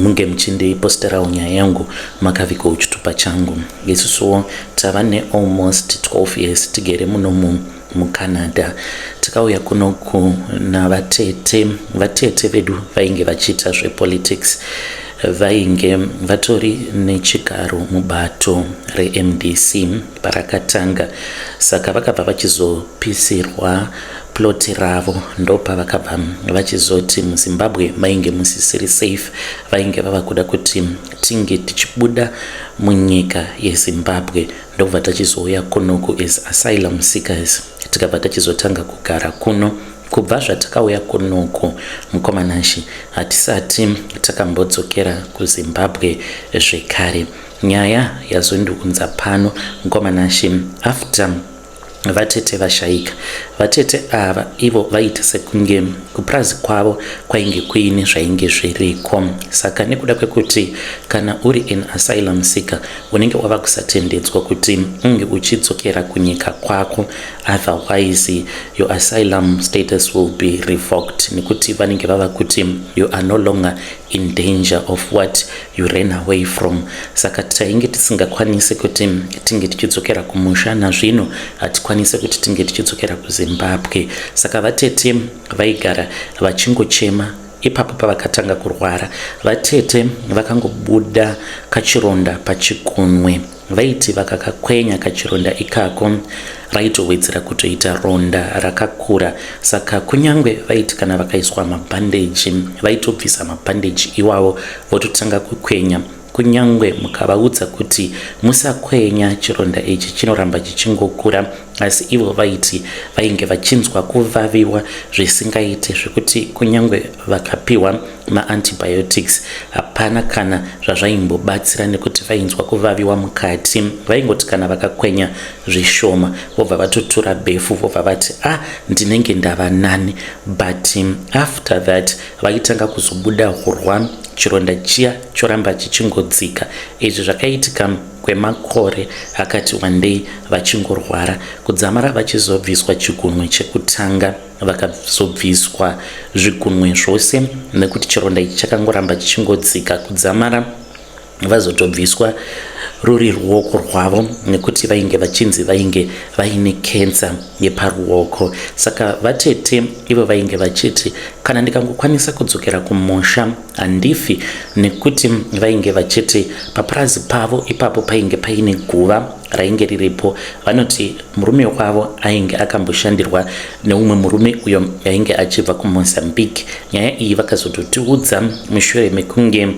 munge muchindiposterawo nyaya yangu makaviko uchitupa changu isusuwo tava nealmost 12 years tigere muno mu mucanada tikauya kuno kuna vatete vatete vedu vainge vachiita zvepolitics vainge vatori nechigaro mubato remdc parakatanga saka vakabva vachizopisirwa plot ravo ndopa vakabva vachizoti muzimbabwe mainge musisiri safe vainge vava kuda kuti tinge tichibuda munyika yezimbabwe ndokubva tachizouya kunoku as asylum seekers tikabva tachizotanga kugara kuno kubva zvatakauya kunoku mukomanashi hatisati takambodzokera kuzimbabwe zvekare Nyaya yazondiunza pano mkoma Nashe after vatete vashaika. Vatete ava ivo vaita sekunge kupurazi kwavo kwainge kuine zvainge zviriko. Saka nekuda kwekuti kana uri an asylum seeker unenge wava kusatendedzwa kuti unge uchidzokera kunyika kwako otherwise your asylum status will be revoked nekuti vanenge vava kuti you are no longer in danger of what you ran away from saka tainge tisingakwanise kuti tinge tichidzokera kumusha nazvino hatikwanise kuti tinge tichidzokera kuzimbabwe saka vatete vaigara vachingochema ipapo pavakatanga kurwara vatete vakangobuda kachironda pachikunwe Vaiti vakakakwenya kachironda ikako raitowedzera kutoita ronda rakakura saka kunyange vaiti kana vakaiswa mabhandeji vaitobvisa mabhandeji iwawo vototanga kukwenya kunyange mukavaudza kuti musakwenya chironda ichi chinoramba chichingokura asi ivo vaiti vainge vachinzwa kuvaviwa zvisingaite zvekuti kunyange vakapiwa maantibiotics hapana kana zvazvaimbobatsira nekuti vainzwa kuvaviwa mukati vaingoti kana vakakwenya zvishoma vobva vatotura befu vobva vati a ah, ndinenge ndava nani but um, after that vaitanga kuzobuda hurwa chironda chiya choramba chichingodzika izvi zvakaitika kwemakore akati wandei vachingorwara kudzamara vachizobviswa chigunwe chekutanga vakazobviswa zvigunwe zvose nekuti chironda ichi chakangoramba chichingodzika kudzamara vazotobviswa ruri ruoko rwavo nekuti vainge vachinzi vainge vaine kensa yeparuoko saka vatete ivo vainge vachiti kana ndikangokwanisa kudzokera kumusha handifi nekuti vainge vachiti papurazi pavo ipapo painge paine guva rainge riripo vanoti murume wavo ainge akamboshandirwa neumwe murume uyo ainge achibva kumozambique nyaya iyi vakazototiudza mushure mekunge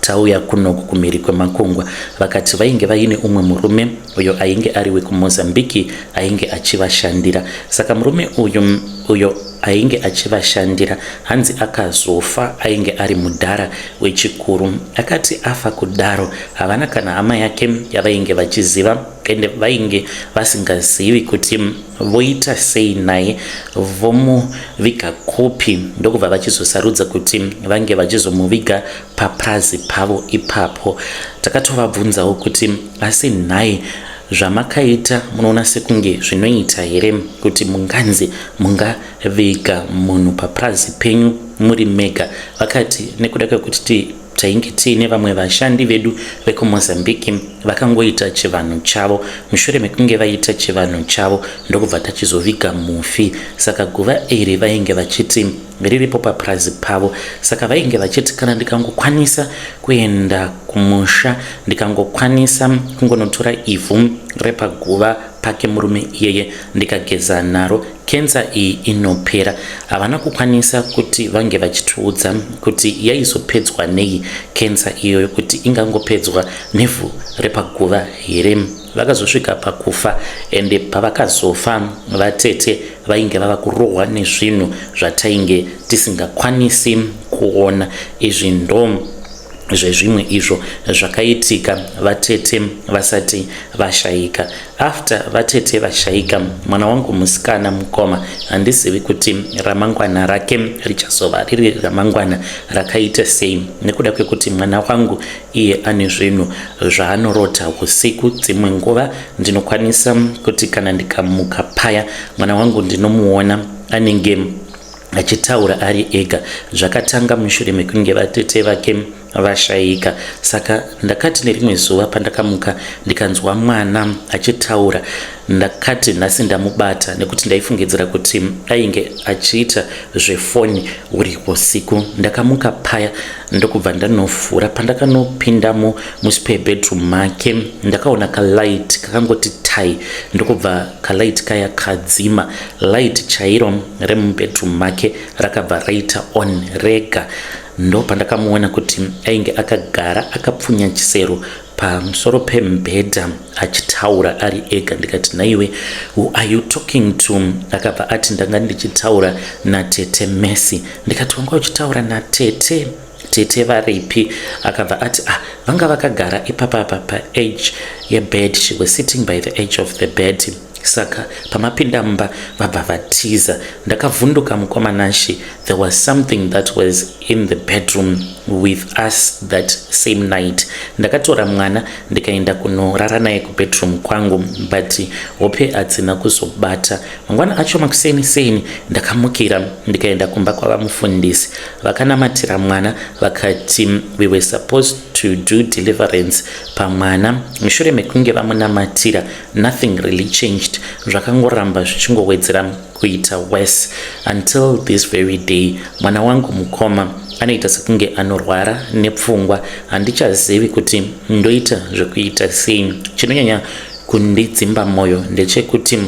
tauya kunoku kumhiri kwemakungwa vakati vainge vaine umwe murume uyo ainge ari wekumozambiki ainge achivashandira saka murume uyu uyo ainge achivashandira hanzi akazofa ainge ari mudhara Wechikuru akati afa kudaro havana kana hama yake yavainge vachiziva ende vainge vasingazivi kuti voita sei naye vomuviga kupi ndokubva vachizosarudza kuti vange vachizomuviga papurazi pavo ipapo takatovabvunzawo kuti asi nhai zvamakaita munoona sekunge zvinoita here kuti munganzi mungaviga munhu papurazi penyu muri mega, vakati nekuda kwekuti tainge tiine vamwe vashandi vedu vekuMozambique vakangoita chivanhu chavo. Mushure mekunge vaita chivanhu chavo ndokubva tachizoviga mufi. Saka guva iri vainge vachiti riripo papurazi pavo. Saka vainge vachiti kana ndikangokwanisa kuenda kumusha ndikangokwanisa kungonotora ivhu repaguva pake murume iyeye ndikageza naro Cancer iyi inopera. Havana kukwanisa kuti vange vachitiudza kuti yaizopedzwa nei cancer iyoyo kuti ingangopedzwa nevhu repaguva here. Vakazosvika pakufa ende pavakazofa vatete vainge vava kurohwa nezvinhu zvatainge tisingakwanisi kuona. Izvi ndo zvezvimwe izvo zvakaitika vatete vasati vashaika after vatete vashaika mwana wangu musikana mukoma handizivi kuti ramangwana rake richazova riri ramangwana rakaita sei nekuda kwekuti mwana wangu iye ane zvinhu zvaanorota usiku dzimwe nguva ndinokwanisa kuti kana ndikamuka paya mwana wangu ndinomuona anenge achitaura ari ega zvakatanga mushure mekunge vatete vake vashaika saka ndakati nerimwe zuva pandakamuka ndikanzwa mwana achitaura ndakati nhasi ndamubata nekuti ndaifungidzira kuti ainge achiita zvefoni uri usiku ndakamuka paya ndokubva ndanovhura pandakanopindamo muspare bedroom make ndakaona kalight kakangoti tai ndokubva kalight kaya kadzima Light chairo remubedroom make rakabva raita on rega ndopandakamuona kuti ainge akagara akapfunya chisero pamusoro pemubhedha achitaura ari ega ndikati nhaiwe who are you talking to akabva ati ndanga ndichitaura natete messy ndikati wanga uchitaura natete Tete varipi? Akabva ati ah vanga vakagara ipapa apa pa edge yebed she was sitting by the edge of the bed saka pamapinda mumba vabva vatiza. Ndakavhunduka mukoma Nashy there was something that was in the bedroom with us that same night. Ndakatora mwana ndikaenda kunorara naye kubedroom kwangu but hope hadzina kuzobata. Mangwana acho makuseni seni ndakamukira ndikaenda kumba kwavamufundisi. vakanamatira mwana vakati we were supposed to do deliverance pamwana mushure mekunge vamunamatira nothing really changed zvakangoramba zvichingowedzera kuita worse until this very day mwana wangu mukoma anoita sekunge anorwara nepfungwa handichazivi kuti ndoita zvekuita sei chinonyanya kundidzimba mwoyo ndechekuti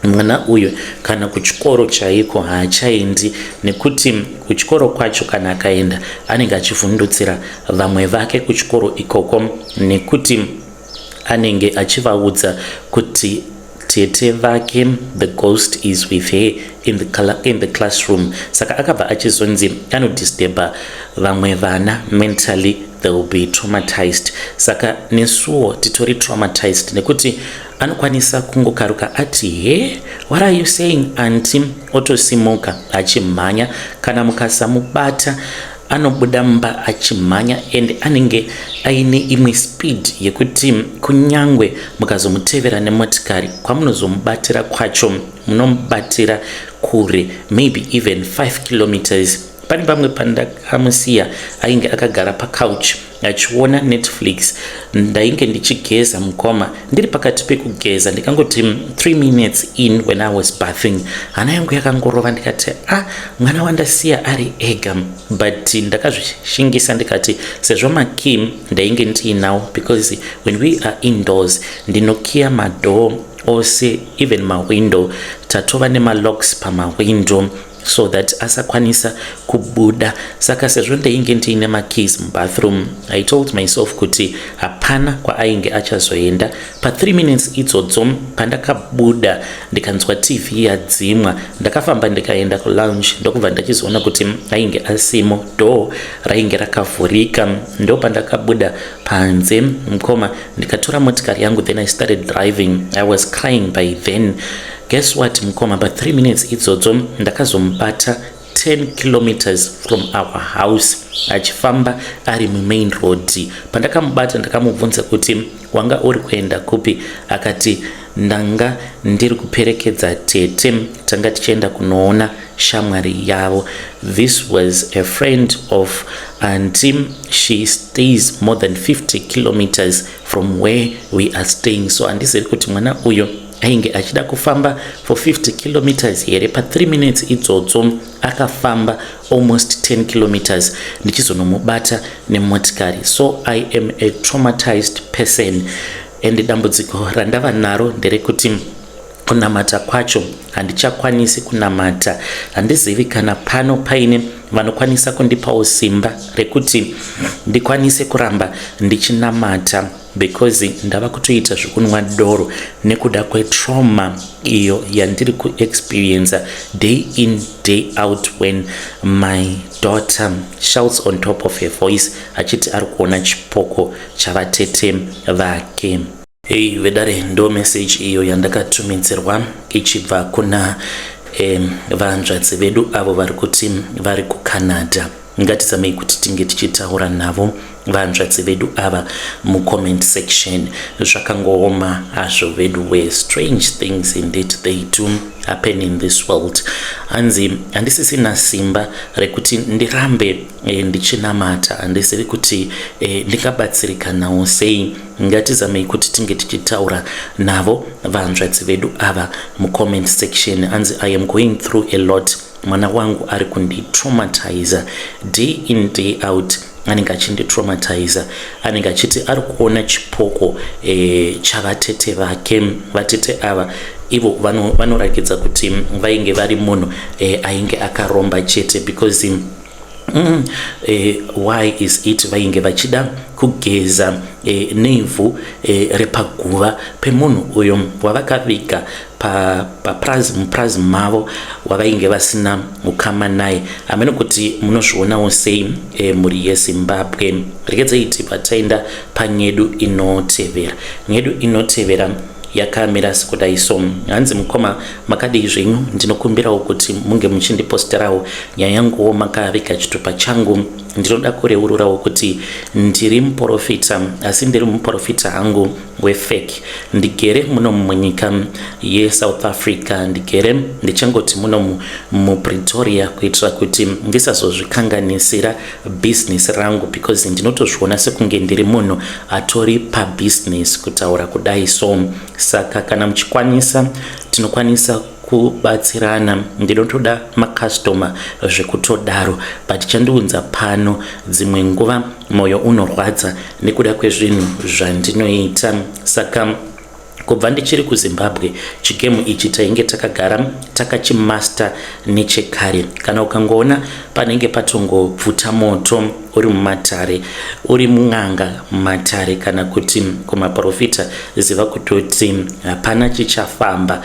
Mwana uyu kana kuchikoro chaiko haachaendi nekuti kuchikoro kwacho kana akaenda anenge achivhundutsira vamwe vake kuchikoro ikoko nekuti anenge achivaudza kuti tete vake the ghost is with her in the, color, in the classroom saka akabva achizonzi anodisturba vamwe vana mentally they will be traumatized saka nesuwo titori traumatized nekuti Anokwanisa kungokaruka ati he what are you saying anti otosimuka achimhanya kana mukasamubata anobuda mumba achimhanya and anenge aine imwe speed yekuti kunyangwe mukazomutevera nemotikari kwamunozomubatira kwacho munomubatira kure maybe even 5 kilometers pane pamwe pandakamusiya ainge akagara pacouch achiona netflix ndainge ndichigeza mukoma ndiri pakati pekugeza ndikangoti 3 minutes in when i was bathing hana yangu yakangorova ndikati a ah, mwana wandasiya ari ega but ndakazvishingisa ndikati sezvo makim ndainge ndiinawo because when we are indoors ndinokiya madoor ose even mawindow tatova nemalocks pamawindow so that asakwanisa kubuda saka sezvo ndainge ndiine makeys mubathroom i told myself kuti hapana kwaainge achazoenda pa3 minutes idzodzo pandakabuda ndikanzwa tv yadzimwa ndakafamba ndikaenda kulounge ndokubva ndachizoona kuti ainge asimo door rainge rakavhurika ndo pandakabuda panze mukoma ndikatora motikari yangu then i started driving i was crying by then Guess what mukoma pa 3 minutes idzodzo ndakazomubata 10 kilometers from our house achifamba ari mumain road pandakamubata ndakamubvunza kuti wanga uri kuenda kupi akati ndanga ndiri kuperekedza tete tanga tichienda kunoona shamwari yavo this was a friend of anti she stays more than 50 kilometers from where we are staying so handizivi kuti mwana uyo ainge achida kufamba for 50 kilometers here pa 3 minutes idzodzo akafamba almost 10 kilometers ndichizonomubata nemotikari so i am a traumatized person and dambudziko randava naro nderekuti kunamata kwacho handichakwanisi kunamata handizivi kana pano paine vanokwanisa kundipawo simba rekuti ndikwanise kuramba ndichinamata because ndava kutoita zvekunwa doro nekuda kwetrauma iyo yandiri kuexperiencer day in day out when my daughter shouts on top of her voice achiti ari kuona chipoko chavatete vake hei vedare ndo meseji iyo yandakatumidzirwa ichibva kuna um, vanzvadzi vedu avo vari kuti vari kucanada ngatizamei kuti tinge tichitaura navo vanzvadzi vedu ava mucomment section zvakangooma hazvo vedu were strange things indeed they do happen in this world hanzi handisisina simba rekuti ndirambe e, ndichinamata handisiri kuti e, ndingabatsirikanawo sei ngatizamei kuti tinge tichitaura navo vanzvadzi vedu ava mucomment section hanzi i am going through a lot mwana wangu ari kunditraumatizer day in day out anenge achinditraumatizer anenge achiti ari kuona chipoko e, chavatete vake vatete ava ivo vanoratidza vano kuti vainge vari munhu e, ainge akaromba chete because mm, e, why is it vainge vachida kugeza e, nevhu e, repaguva pemunhu uyo wavakaviga papurazi mupurazi mavo wavainge vasina ukama naye hameno kuti munozvionawo sei e, mhuri yezimbabwe regedzei tibva taenda panyedu inotevera nyedu inotevera yakamira sekudai so hanzi mukoma makadii zvenyu ndinokumbirawo kuti munge muchindiposterawo nyaya yanguwo makaviga chitupa changu ndinoda kureururawo kuti ndiri muprofita asi ndiri muprofita hangu wefake ndigere muno munyika yesouth africa ndigere ndichangoti muno mupretoria kuitira kuti ndisazozvikanganisira business rangu because ndinotozviona sekunge ndiri munhu atori pabusiness kutaura kudai so saka kana muchikwanisa tinokwanisa kubatsirana ndinotoda macustomer zvekutodaro but chandiunza pano dzimwe nguva moyo unorwadza nekuda kwezvinhu zvandinoita saka kubva ndichiri kuzimbabwe chigemu ichi tainge takagara takachimaster nechekare kana ukangoona panenge patongobvuta moto uri mumatare uri mun'anga mumatare kana kuti kumaprofita ziva kutoti hapana chichafamba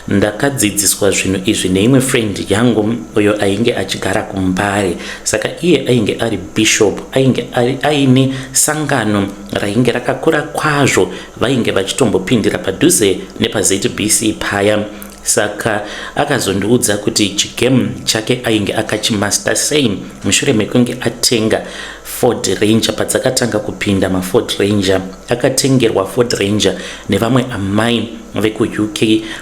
ndakadzidziswa zvinhu izvi neimwe friend yangu uyo ainge achigara kumbare saka iye ainge ari bishop ainge aine sangano rainge rakakura kwazvo vainge vachitombopindira padhuze nepazbc paya saka akazondiudza kuti chigame chake ainge akachimaster sei mushure mekunge atenga ford ranger padzakatanga kupinda maford ranger akatengerwa ford ranger nevamwe amai vekuuk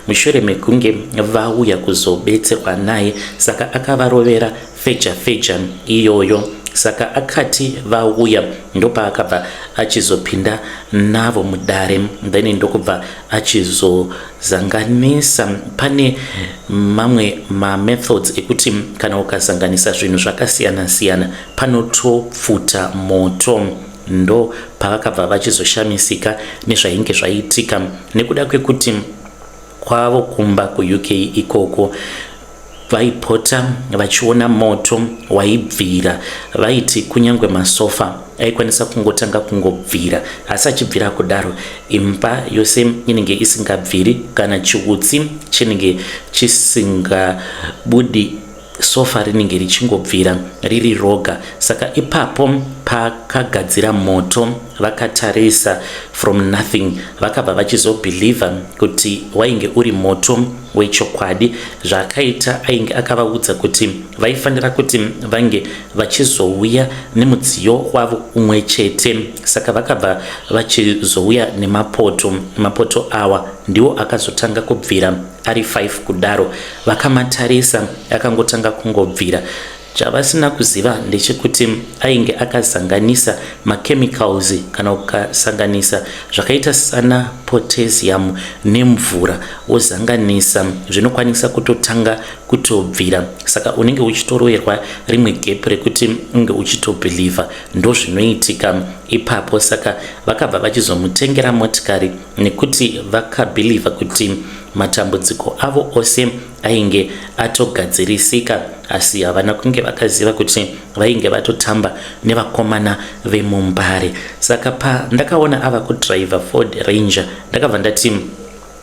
mushure mekunge vauya kuzobetserwa naye saka akavarovera feja feja iyoyo saka akati vauya ndopaakabva achizopinda navo mudare then ndokubva achizo zanganisa pane mamwe mamethods ekuti kana ukazanganisa zvinhu zvakasiyana siyana panotopfuta moto ndo pavakabva vachizoshamisika nezvainge zvaiitika nekuda kwekuti kwavo kumba kuuk ikoko Vaipota vachiona moto waibvira. Vaiti kunyange masofa aikwanisa kungotanga kungobvira, asi achibvira kudaro imba yose inenge isingabviri kana chiutsi chinenge chisingabudi sofa rinenge richingobvira riri roga saka ipapo pakagadzira moto vakatarisa from nothing vakabva vachizobhilivha kuti wainge uri moto wechokwadi zvaakaita ainge akavaudza kuti vaifanira kuti vange vachizouya nemudziyo wavo umwe chete saka vakabva vachizouya nemapoto mapoto awa ndiwo akazotanga kubvira ari 5 kudaro vakamatarisa akangotanga kungobvira Chavasina kuziva ndechekuti ainge akazanganisa ma chemicals kana ukasanganisa zvakaita sana potassium nemvura wozanganisa zvinokwanisa kutotanga kutobvira saka unenge uchitoroerwa rimwe gap rekuti unge uchitobeliever ndozvinoitika ipapo saka vakabva vachizomutengera motikari nekuti vakabeliever kuti matambudziko avo ose ainge atogadzirisika asi havana kunge vakaziva kuti vainge vatotamba nevakomana vemumbare saka pa ndakaona ava kudriver ford ranger ndakabva ndati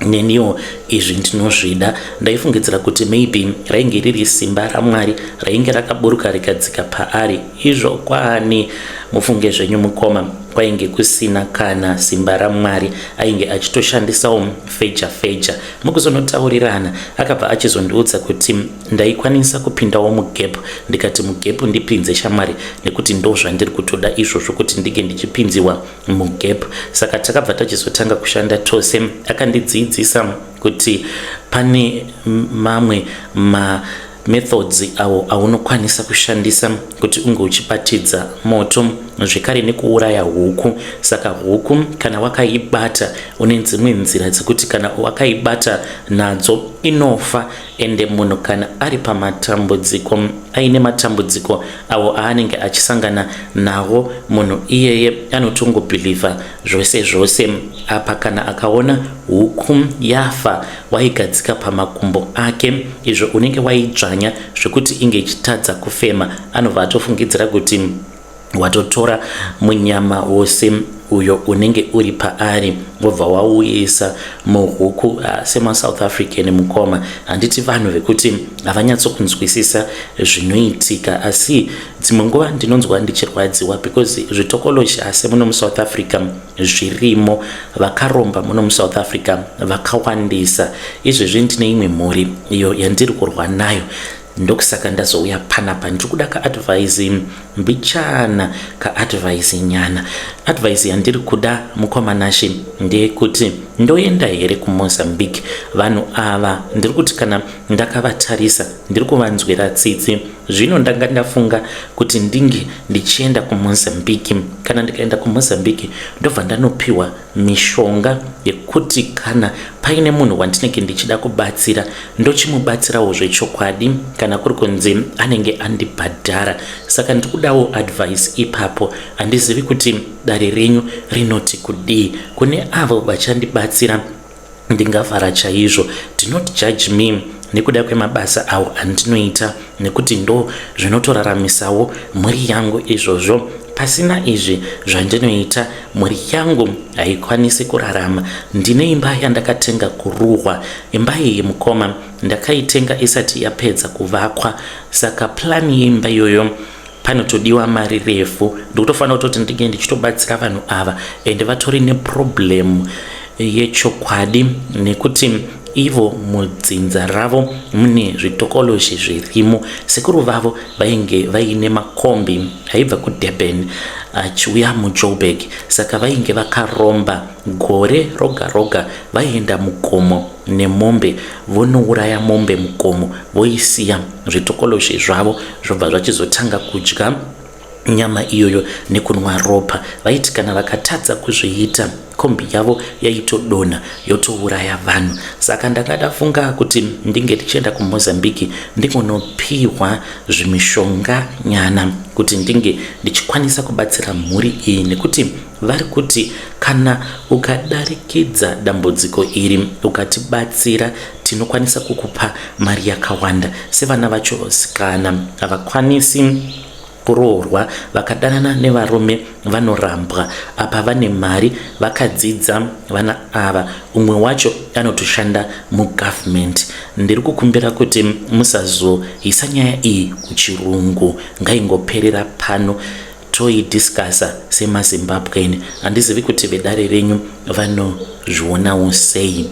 neniwo izvi ndinozvida ndaifungidzira kuti maybe rainge riri simba ramwari rainge rakaburuka rikadzika paari izvo kwaani mufunge zvenyu mukoma kwainge kusina kana simba ramwari ainge achitoshandisawo feja feja Mukuzonotaurirana akabva achizondiudza kuti ndaikwanisa kupindawo mugap ndikati mugap ndipinze shamwari nekuti ndozvandiri kutoda izvozvo kuti ndinge ndichipinziwa mugap. Saka takabva tachizotanga kushanda tose akandidziidzisa kuti pane mamwe ma methods awo aunokwanisa kushandisa kuti unge uchibatidza moto zvekare nekuuraya huku saka huku kana wakaibata une dzimwe nzira dzekuti kana wakaibata nadzo inofa ende munhu kana ari pamatambudziko aine matambudziko awo aanenge achisangana nawo munhu iyeye anotongobhilivha Zvose zvose apa kana akaona huku yafa waigadzika pamakumbo ake izvo unenge waidzvanya zvekuti inge ichitadza kufema anobva atofungidzira kuti watotora munyama wose uyo unenge uri paari wobva wauisa muhuku uh, ah, semasouth african mukoma handiti vanhu vekuti havanyatsokunzwisisa zvinoitika asi Dzimwe nguva ndinonzwa ndichirwadziwa because zvitokoloshi hase muno muSouth Africa zvirimo, vakaromba muno muSouth Africa vakawandisa. Izvezvi ndine imwe mhuri iyo yandiri kurwa nayo ndokusaka ndazouya panapa ndiri kuda kaadvhaisi mbichana kaadvhaisi nyana advhaisi yandiri kuda mukomanashe ndeyekuti ndoenda here kumozambique vanhu ava ndiri kuti kana ndakavatarisa ndiri kuvanzwira tsitsi Zvino ndanga ndafunga kuti ndinge ndichienda kuMozambique. Kana ndikaenda kuMozambique ndobva ndanopiwa mishonga yekuti kana paine munhu wandinenge ndichida kubatsira ndochimubatsirawo zvechokwadi kana kuri kunzi anenge andibhadhara. Saka ndiri kudawo advice ipapo. Handizivi kuti dare renyu rinoti kudii kune avo vachandibatsira Ndingafara chaizvo. Do not judge me nekuda kwemabasa awo andinoita nekuti ndo zvinotoraramisawo mhuri yangu izvozvo. Pasina izvi zvandinoita mhuri yangu haikwanisi kurarama. Ndine imba yandakatenga kuruhwa. Imba iyi mukoma ndakaitenga isati yapedza kuvakwa saka plan yeimba iyoyo panotodiwa mari refu ndikutofanira kutoti ndinge ndichitobatsira vanhu ava and vatori neproblem yechokwadi nekuti ivo mudzinza ravo mune zvitokoloshi zvirimo sekuru vavo vainge vaine makombi aibva kudurban achiuya mujoburg saka vainge vakaromba gore roga roga vaienda mugomo nemombe vonouraya mombe mukomo voisiya zvitokolozve zvavo zvobva zvachizotanga kudya nyama iyoyo nekunwa ropa vaiti kana vakatadza kuzviita kombi yavo yaitodonha yotouraya vanhu saka ndanga ndafunga kuti ndinge tichienda kumozambique ndingonopihwa zvimishonga nyana kuti ndinge ndichikwanisa kubatsira mhuri iyi nekuti Vari kuti kana ukadarikidza dambudziko iri ukatibatsira tinokwanisa kukupa mari yakawanda sevana vacho sikana havakwanisi kuroorwa vakadanana nevarume vanorambwa apa vane mari vakadzidza vana ava umwe wacho anotoshanda mugovernment ndiri kukumbira kuti musazoisa nyaya iyi kuchirungu ngaingoperera pano Toyi discussa sema Zimbabwean handizivi kuti vedare renyu vanozvionawo sei.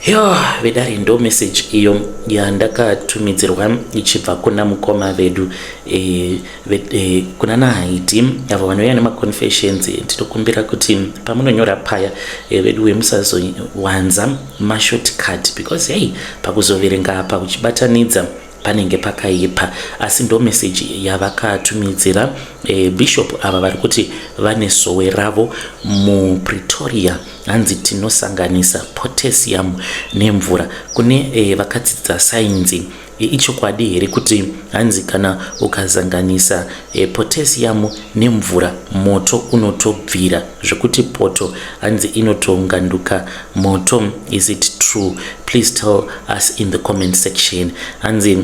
Yoo vedare ndo message iyo yandakatumidzirwa ichibva kuna mukoma vedu e, ve, e, kuna nahaiti avo vanouya nemaconfessions tinokumbira kuti pamunonyora paya e, vedu wemusazowanza mashortcut because hei pakuzoverenga apa uchibatanidza panenge pakaipa asi ndo message yavakatumidzira e, bishop ava vari kuti vane sowe ravo mupretoria hanzi tinosanganisa potassium nemvura kune e, vakadzidza sainzi e, ichokwadi here kuti hanzi kana ukazanganisa e, potassium nemvura moto unotobvira zvekuti poto hanzi inotonganduka Moto is it true please tell us in the comment section hanzi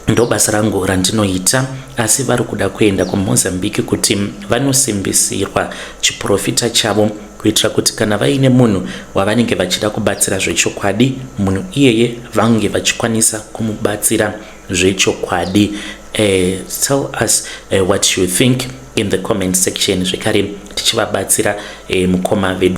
ndobasa rangu randinoita asi vari kuda kuenda kumozambique kuti vanosimbisirwa chiprofita chavo kuitira kuti kana vaine munhu wavanenge vachida kubatsira zvechokwadi munhu iyeye vange vachikwanisa kumubatsira zvechokwadi uh, tell us uh, what you think in the comment section zvekare tichivabatsira uh, mukoma vedu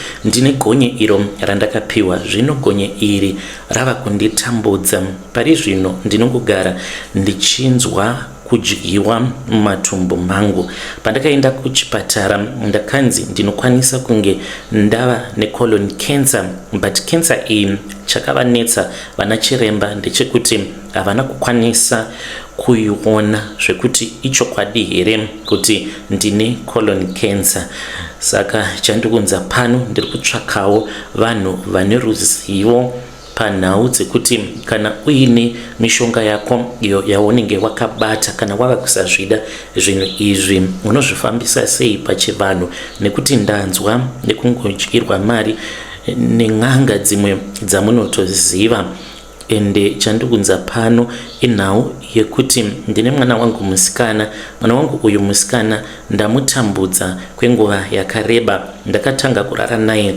Ndine gonye iro randakapiwa zvino gonye iri rava kunditambudza. Pari zvino ndinongogara ndichinzwa kudyiwa mumatumbu mangu. Pandakaenda kuchipatara ndakanzi ndinokwanisa kunge ndava necolon cancer but cancer iyi chakavanetsa vana chiremba ndechekuti havana kukwanisa kuiona zvekuti ichokwadi here kuti ndine colon cancer saka chandikunza pano ndiri kutsvakawo vanhu vane ruzivo panhau dzekuti kana uine mishonga yako iyo yaunenge wakabata kana wava kusazvida zvinhu izvi unozvifambisa sei pachivanhu nekuti ndanzwa nekungodyirwa mari nen'anga dzimwe dzamunotoziva Ende chandiunza pano inhau yekuti ndine mwana wangu musikana. Mwana wangu uyu musikana ndamutambudza kwenguva yakareba. Ndakatanga kurara naye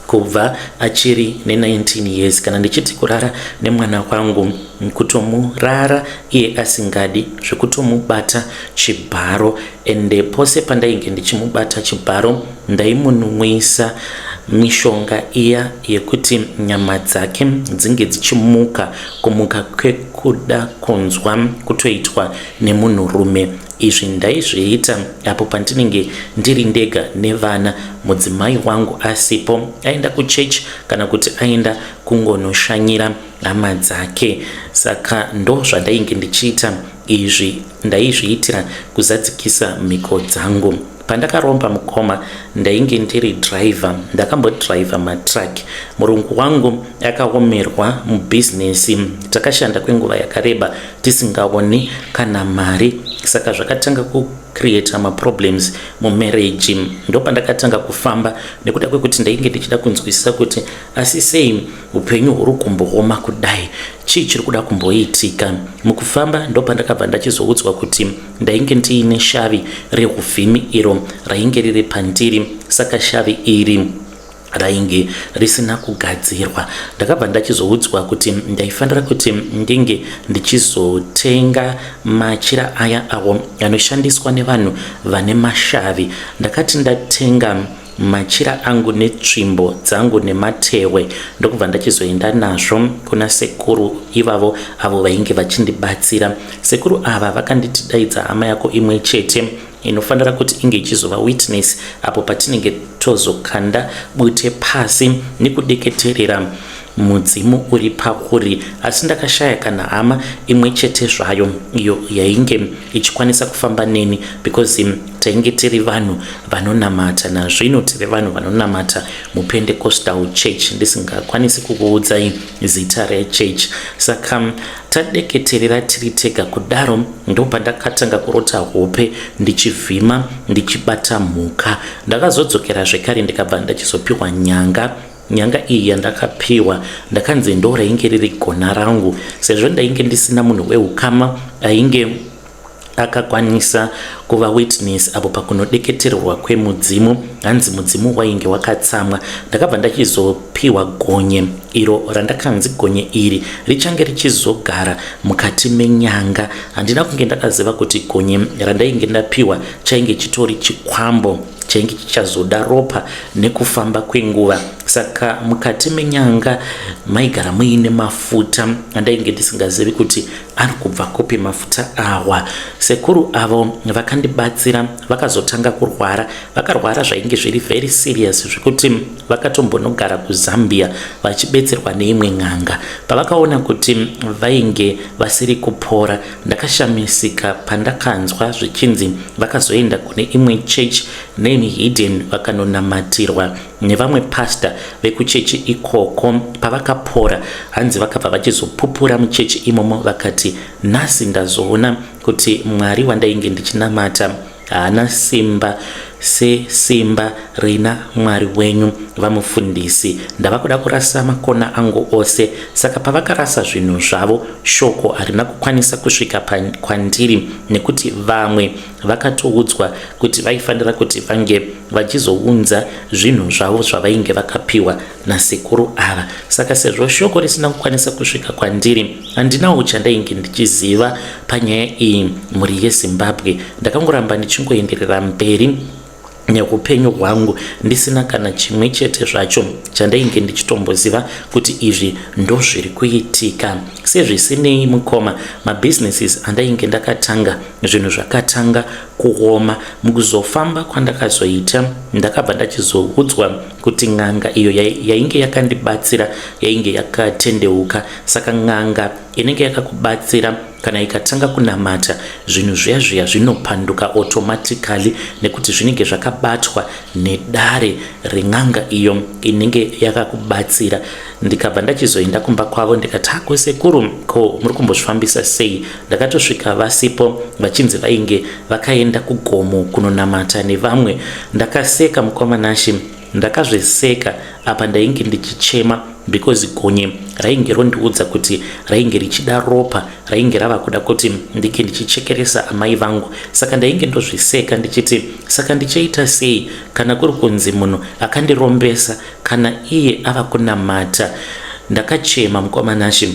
kubva achiri ne19 years. Kana ndichiti kurara nemwana wangu kutomurara iye asingadi zvekutomubata chibharo ende pose pandainge ndichimubata chibharo Ndaimunwisa mishonga iya yekuti nyama dzake dzinge dzichimuka kumuka kwekuda kunzwa kutoitwa nemunhurume. Izvi ndaizviita apo pandinenge ndiri ndega nevana mudzimai wangu asipo aenda kuchechi kana kuti aenda kungonoshanyira hama dzake. Saka ndo zvandainge ndichiita izvi ndaizviitira kuzadzikisa mhiko dzangu. Pandakaromba mukoma ndainge ndiri driver ndakambodriver matruck. Murungu wangu akaomerwa mubusiness takashanda kwenguva yakareba tisingaoni kana mari saka zvakatanga kucreata maproblems mumarriage. Ndopandakatanga kufamba nekuda kwekuti ndainge ndichida kunzwisisa kuti asi sei upenyu huri kumbooma kudai chii chiri kuda kumboitika. Mukufamba ndopandakabva ndachizoudzwa kuti Ndainge ndiine shavi rehuvhimi iro rainge riri pandiri saka shavi iri rainge risina kugadzirwa. Ndakabva ndachizoudzwa kuti ndaifanira kuti ndinge ndichizotenga machira aya awo anoshandiswa nevanhu vane mashavi. Ndakati ndatenga machira angu netsvimbo dzangu nematehwe ndokubva ndachizoenda nazvo kuna sekuru ivavo avo vainge vachindibatsira sekuru ava vakanditi daidza hama yako imwe chete inofanira kuti inge ichizova witness apo patinenge tozokanda bute pasi nekudeketerera Mudzimu uri pauri. Asi ndakashaya kana hama imwe chete zvayo iyo yainge ichikwanisa kufamba neni because um, tainge tiri vanhu vanonamata. Nazvino tiri vanhu vanonamata muPentecostal church ndisingakwanisi kukuudzai zita rechurch. Saka um, tadeketerera tiri tega kudaro ndobva ndakatanga kurota hope ndichivhima ndichibata mhuka. Ndakazodzokera zvekare ndikabva ndachizopiwa nyanga Nyanga iyi yandakapiwa ndakanzi ndorainge riri gona rangu sezvo ndainge ndisina munhu weukama ainge akakwanisa kuva witness apo pakunodeketererwa kwemudzimu hanzi mudzimu wainge wakatsamwa ndakabva ndachizopiwa gonye iro randakanzi gonye iri richange richizogara mukati menyanga handina kunge ndakaziva kuti gonye randainge ndapiwa chainge chitori chikwambo chainge chichazoda ropa Nekufamba kwenguva saka mukati menyanga maigara muine mafuta andainge ndisingazivi kuti ari kubva kupi mafuta awa. Sekuru avo vakandibatsira vakazotanga kurwara, vakarwara zvainge zviri very serious zvekuti vakatombonogara kuZambia vachibetserwa neimwe n'anga. Pavakaona kuti vainge vasiri kupora ndakashamisika pandakanzwa zvichinzi vakazoenda kune imwe church Neni Hidden vakanonamatirwa nevamwe pastor vekuchechi ikoko. Pavakapora hanzi vakabva vachizopupura muchechi imomo vakati, nhasi ndazoona kuti Mwari wandainge ndichinamata haana simba sesimba rina Mwari wenyu. VaMufundisi ndava kuda kurasa makona angu ose. Saka pavakarasa zvinhu zvavo, shoko harina kukwanisa kusvika kwandiri nekuti vamwe vakatoudzwa kuti vaifanira kuti vange vachizounza zvinhu zvavo zvavainge vakapiwa nasekuru ava saka sezvo shoko risina kukwanisa kusvika kwandiri handinawo chandainge ndichiziva panyaya iyi mhuri yezimbabwe ndakangoramba ndichingoenderera mberi neupenyu hwangu ndisina kana chimwe chete zvacho chandainge ndichitomboziva kuti izvi ndozviri kuitika sezvisinei mukoma mabusinesses andainge ndakatanga zvinhu zvakatanga kuoma mukuzofamba kwandakazoita ndakabva ndachizoudzwa kuti n'anga iyo yainge yakandibatsira yainge yakatendeuka saka n'anga inenge yakakubatsira Kana ikatanga kunamata, zvinhu zviya zviya zvinopanduka automatically nekuti zvinenge zvakabatwa nedare ren'anga iyo inenge yakakubatsira. Ndikabva ndachizoenda kumba kwavo ndikati hako sekuru ko muri kumbozvifambisa sei? Ndakatosvika vasipo vachinzi vainge vakaenda kugomo kunonamata nevamwe. Ndakaseka mukoma Nashi Ndakazviseka apa ndainge ndichichema because gonye rainge rondiudza kuti rainge richida ropa rainge rava kuda kuti ndinge ndichichekeresa amai vangu saka ndainge ndozviseka ndichiti saka ndichaita sei kana kuri kunzi munhu akandirombesa kana iye ava kunamata ndakachema mukoma nashe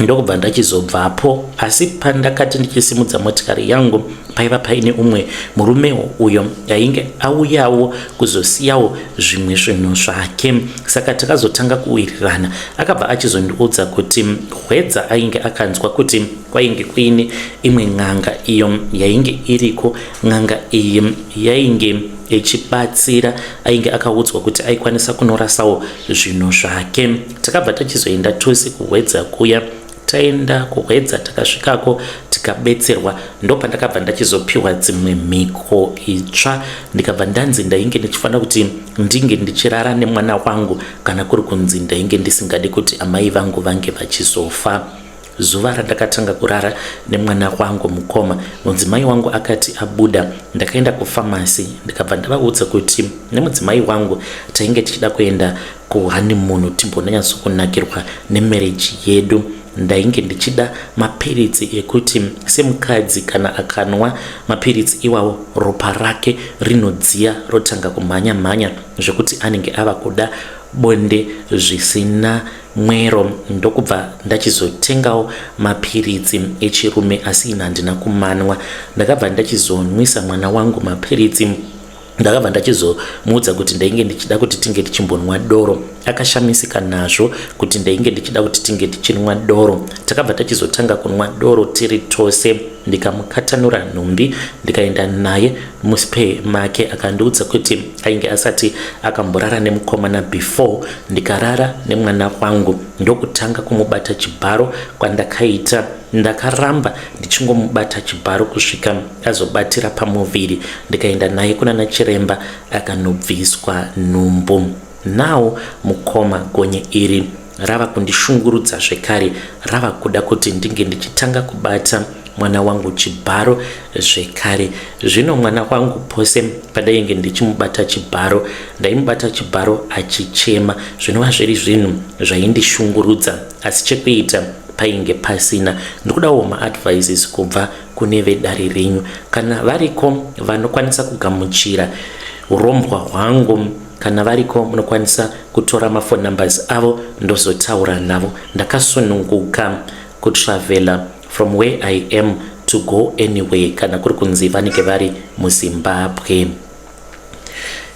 ndokubva ndachizobvapo asi pandakati ndichisimudza motikari yangu paiva paine umwe murume uyo ainge auyawo kuzosiyawo zvimwe zvinhu zvake saka takazotanga kuwirirana akabva achizondiudza kuti hwedza ainge akanzwa kuti kwainge kuine imwe n'anga iyo yainge iriko n'anga iyi yainge echibatsira ainge akaudzwa kuti aikwanisa kunorasawo zvinhu zvake takabva tachizoenda tose kuhwedza kuya taenda kuhwedza takasvikako tikabetserwa ndopandakabva ndachizopiwa dzimwe mhiko itsva ndikabva ndanzi ndainge ndichifanira kuti ndinge ndichirara nemwana wangu kana kuri kunzi ndainge ndisingadi kuti amai vangu vange vachizofa zuva randakatanga kurara nemwana wangu mukoma mudzimai wangu akati abuda ndakaenda kufamasi ndikabva ndavaudza kuti nemudzimai wangu tainge tichida kuenda Ko honeymoon timbonanyatsokunakirwa nemarriage yedu ndainge ndichida mapiritsi ekuti semukadzi kana akanwa mapiritsi iwawo ropa rake rinodziya rotanga kumhanya mhanya zvekuti anenge ava kuda bonde zvisina mwero ndokubva ndachizotengawo mapiritsi echirume asi ina handina kumanwa ndakabva ndachizonwisa mwana wangu mapiritsi ndakabva ndachizomuudza kuti ndainge ndichida kuti tinge tichimbonwa doro akashamisika nazvo kuti ndainge ndichida kuti tinge tichinwa doro takabva tachizotanga kunwa doro tiri tose ndikamukatanura nhumbi ndikaenda naye muspe make akandiudza kuti ainge asati akamborara nemukomana before ndikarara nemwana wangu ndokutanga kumubata chibharo kwandakaita Ndakaramba ndichingomubata chibharo kusvika azobatira pamuviri ndikaenda naye kunana chiremba akanobviswa nhumbu. Now mukoma gonye iri rava kundishungurudza zvekare rava kuda kuti ndinge ndichitanga kubata mwana wangu chibharo zvekare zvino mwana wangu pose padainge ndichimubata chibharo ndaimubata chibharo achichema zvinova zviri zvinhu zvaindishungurudza asi chekuita painge pasina ndikudawo maadvices kubva kune vedare renyu kana variko vanokwanisa kugamuchira urombwa hwangu kana variko munokwanisa kutora mafone numbers avo ndozotaura navo ndakasununguka kutravela from where i am to go anywhere kana kuri kunzi vanenge vari muzimbabwe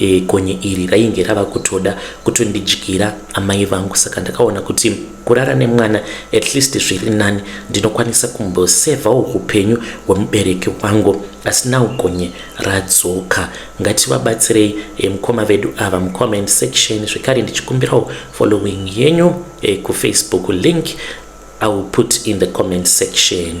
E, gonye iri rainge rava kutoda kutondidyira amai vangu saka ndakaona kuti kurara nemwana at least zviri nani ndinokwanisa kumbosevhawo upenyu hwemubereki wangu asi now gonye radzoka ngativabatsirei e, mukoma vedu ava mucomment section zvekare ndichikumbirawo following yenyu e, kufacebook link i will put in the comment section